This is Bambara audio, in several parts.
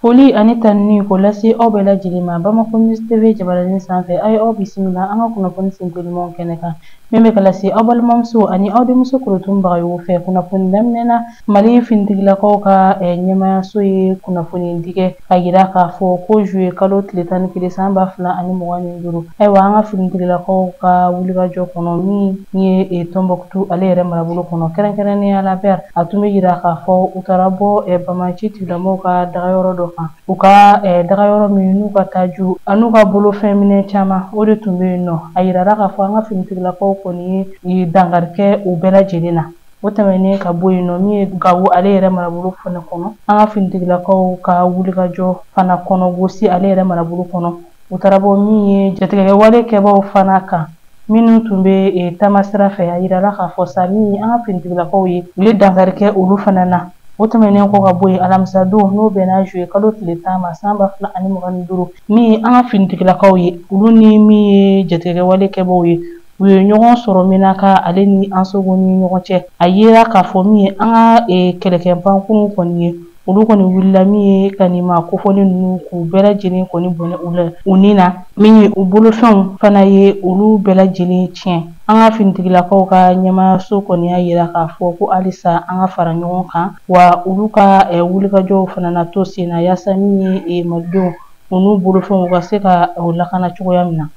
Foli ani tanuni ko lase aw bɛɛ lajɛlen ma Bamako News TV jabaranin sanfɛ a ye aw bisimila an ka kunnafoni senko ɲumanw kɛnɛ kan min bɛ ka lase aw balimamuso ani aw denmuso korotun bagayogo fɛ kunnafoni daminɛ na Mali finitigilakaw ka ɲɛmaayaso ye kunnafoni di kɛ k'a yira k'a fɔ ko zuye kalo tile tan ni kelen san ba fila ani mugan ni duuru ayiwa an ka finitigilakaw ka wulikajɔ kɔnɔ min ye tɔnbɔ tu ale yɛrɛ marabolo kɔnɔ kɛrɛnkɛrɛnnenya la bɛr a tun bɛ yira k'a fɔ u taara bɔ banbaanci tigilamɔgɔw ka dagayɔrɔ dɔ kan u ka dagayɔrɔ min n'u ka taji an'u ka bolofɛn minɛn caman o de tun bɛ yen nɔ a yirara k'a fɔ an ka finitigilakaw kɔni ye dankari kɛ u bɛɛ lajɛlen na o tɛmɛnen ka bɔ yen nɔ min ye gawo ale yɛrɛ marabolo fana kɔnɔ an ka finitigilakaw ka wulikajɔ fana kɔnɔ gosi ale yɛrɛ marabolo kɔnɔ u taara bɔ min ye jatigɛwale kɛbaaw fana kan minnu tun bɛ eh, taamasira fɛ a yirala k'a fɔ sa min ye an ka finitigilakaw ye u ye dankari kɛ olu fana na o tɛmɛnen kɔ ka bɔ yen alamisa don n'o bɛnna zuye kalo tile tan ma san ba fila ani mugan ni duuru min ye an ka finitigilakaw ye olu ni min ye jatigɛwale kɛbaaw ye u ye ɲɔgɔn sɔrɔ menaka ale ni ansongo ni ɲɔgɔn cɛ a yera k'a fɔ min ye an ka eh, kɛlɛkɛpankurun kɔni ye olu kɔni wulila min ye ka nin maa kofɔlen ninnu k'u bɛɛ lajɛlen kɔni bɔnɛ u la u ni na min ye u bolofɛnw fana ye olu bɛɛ lajɛlen tiɲɛ an ka finitigilakaw ka ɲɛmaayaso kɔni y'a yira k'a fɔ ko halisa an ka fara ɲɔgɔn kan wa olu ka wulikajɔw fana na to sen na yaasa min ye malidenw u n'u bolofɛnw u ka se ka o lakana cogoya min na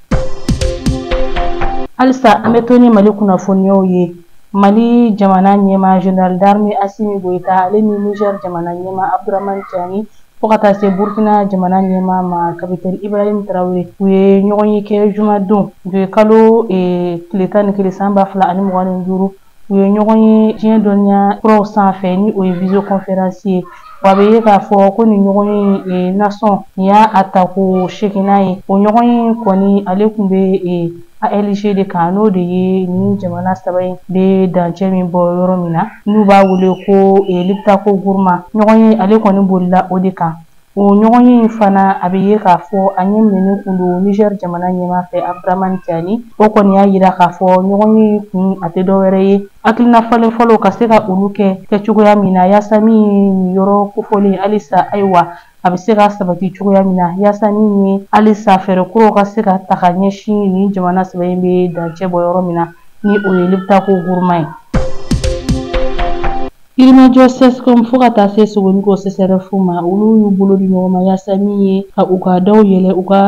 halisa an bɛ to ni mali kunnafoniyaw ye mali jamana ɲɛmaa général d'armée asimi goyita ale ni niger jamana ɲɛmaa abdurahmani tiani fo ka taa se burkina jamana ɲɛmaa ma kapitɛni ibrahim tarawele u ye ɲɔgɔnye kɛ jumadon zuye kalo tile tan ni kelen san ba fila ani mugan ni duuru U ye ɲɔgɔn ye diɲɛ dɔnniya kuraw sanfɛ ni o ye visioconférence ye wa a bɛ ye k'a fɔ ko nin ɲɔgɔnye e, nasɔn nin y'a tako seginnan ye o ɲɔgɔnye kɔni ale tun bɛ e, ALG de kan n'o de ye nin jamana saba in bɛ dancɛ min bɔ yɔrɔ min na n'u b'a wele ko e, Liptako Gourma ɲɔgɔnye ale kɔni bolila o de kan. O ɲɔgɔnye in fana a bɛ ye k'a fɔ a ɲɛ minɛnen tun don Niger jamana ɲɛmaa fɛ Abdramane Tiani o kɔni y'a yira k'a fɔ ɲɔgɔnye in kun a tɛ dɔwɛrɛ ye hakilina falenfalenw ka se ka olu kɛ kɛ cogoya min na yaasa min ye nin yɔrɔ kofɔlen ye halisa ayiwa a bɛ se ka sabati cogoya min na yaasa min ye halisa fɛɛrɛ kuraw ka se ka ta ka ɲɛsin nin jamana saba in bɛ dancɛ bɔ yɔrɔ min na ni o ye Liptako Gourma ye. Yirimajɔ sɛsikɔmu fo ka taa se sogoniko sɛsɛrɛfu ma olu y'u bolo di ɲɔgɔn ma yaasa min ye ka u ka daw yɛlɛ u ka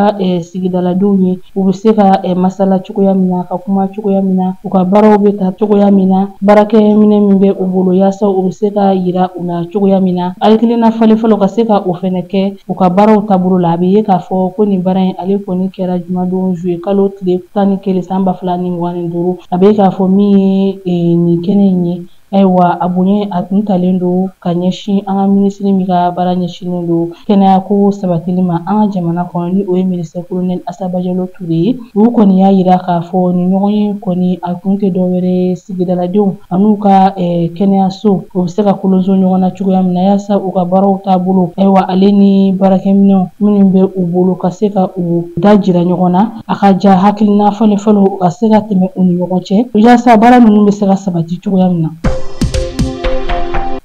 sigidaladenw ye u bɛ se ka masala cogoya min na ka kuma cogoya min na u ka baaraw bɛ ta cogoya min na baarakɛminɛn min bɛ u bolo yaasa u bɛ se ka yira u la cogoya min na hakilina falenfalen ka se ka o fɛnɛ kɛ u ka baaraw taabolo la a bɛ ye k'a fɔ ko nin baara in ale kɔni kɛra jumadon zuye kalo tile tan ni kelen san ba fila ni mugan ni duuru a bɛ ye k'a fɔ min ye nin kɛnɛ in ye ayiwa a bonya a tun talen don ka ɲɛsin an ka minisiri min ka baara ɲɛsinnen don kɛnɛyako sabatili ma an ka jamana kɔnɔ ni o ye minisiri kolonɛli Asa Bajalo Ture ye olu kɔni y'a yira k'a fɔ nin ɲɔgɔnye kɔni a kun tɛ dɔwɛrɛ sigidaladenw an'u ka kɛnɛyaso u bɛ se ka kolonso ɲɔgɔn na cogoya min na yaasa u ka baaraw taabolo ayiwa ale ni baarakɛminɛnw minnu bɛ u bolo ka se ka u dajira ɲɔgɔn na a ka ja hakilina falenfalen u ka se ka tɛmɛ u ni ɲɔgɔn cɛ yaasa baara ninnu bɛ se ka sabati cogoya min na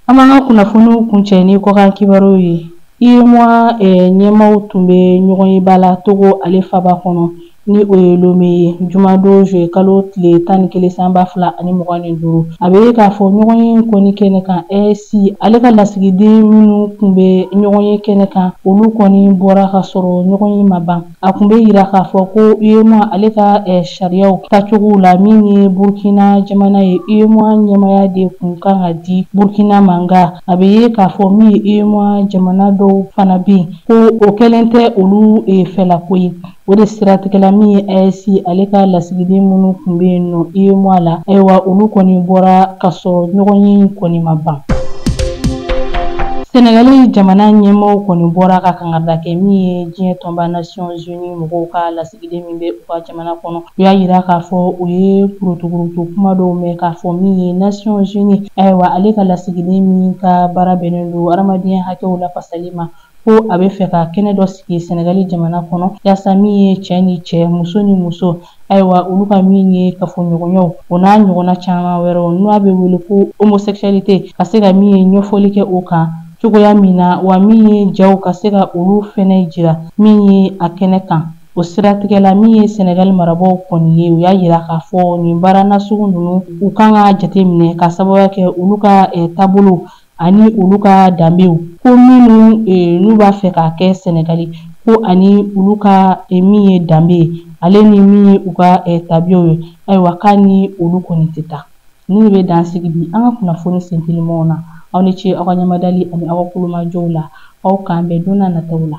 an b'an ka kunnafoniw kuncɛ ni kɔkan kibaruw ye UEMOA eh, ɲɛmaaw tun bɛ ɲɔgɔnyeba la Togo ale faba kɔnɔ ni o ye Lome ye jumadon zuye kalo tile tan ni kelen san ba fila ani mugan ni duuru a bɛ ye k'a fɔ ɲɔgɔnye kɔni kɛnɛ kan AES ale ka lasigiden minnu tun bɛ ɲɔgɔnye kɛnɛ kan olu kɔni bɔra ka sɔrɔ ɲɔgɔnye ma ban A tun bɛ yira k'a fɔ ko UEMOA ale ka sariyaw tacogow la min ye Burkina jamana ye UEMOA ɲɛmaaya de kun kan ka di Burkina ma nka a bɛ ye k'a fɔ min ye UEMOA jamana dɔw fana bɛ yen ko o kɛlen tɛ olu fɛlako ye o de siratigɛ la min ye AES ale ka lasigiden minnu tun bɛ yen nɔ UEMOA la ayiwa olu kɔni bɔra ka sɔrɔ ɲɔgɔnye in kɔni ma ban. Senegali jamana ɲɛmaaw kɔni bɔra ka kankarida kɛ min ye diɲɛ tɔnba nasiyɔn zini mɔgɔw ka lasigiden min bɛ u ka jamana kɔnɔ u y'a yira k'a fɔ u ye kurutukurutu kuma dɔw mɛn k'a fɔ min ye nasiyɔn zini ayiwa ale ka lasigiden min ka baara bɛnnen don hadamadenya hakɛw lafasali ma ko a bɛ fɛ ka kɛnɛ dɔ sigi sɛnɛgali jamana kɔnɔ yaasa min ye cɛ ni cɛ muso ni muso ayiwa olu ka min ye kafoɲɔgɔnyaw o n'a ɲɔgɔnna caman wɛrɛw n'a bɛ wele ko homosexualité ka se ka min ye ɲɛfɔli kɛ o kan cogoya min na wa min ye jaw ka se ka olu fɛnɛ jira min ye a kɛnɛ kan o siratigɛ la min ye sɛnɛgali marabaaw kɔni ye u y'a yira k'a fɔ nin baara nasugu ninnu u kan ka jateminɛ k'a sababuya kɛ olu ka eh, taabolo ani olu ka danbew ko minnu e, n'u b'a fɛ k'a kɛ sɛnɛgali ko ani olu ka e, min ye danbe ye ale ni min ye u ka e, tabiyaw ye ayiwa k'a ni olu kɔni tɛ taa nin de bɛ dan sigi bi an ka kunnafoni sentelimaw na aw ni ce aw ka ɲamadali ani aw ka kulomajɔw la aw k'an bɛn don n'a nataw la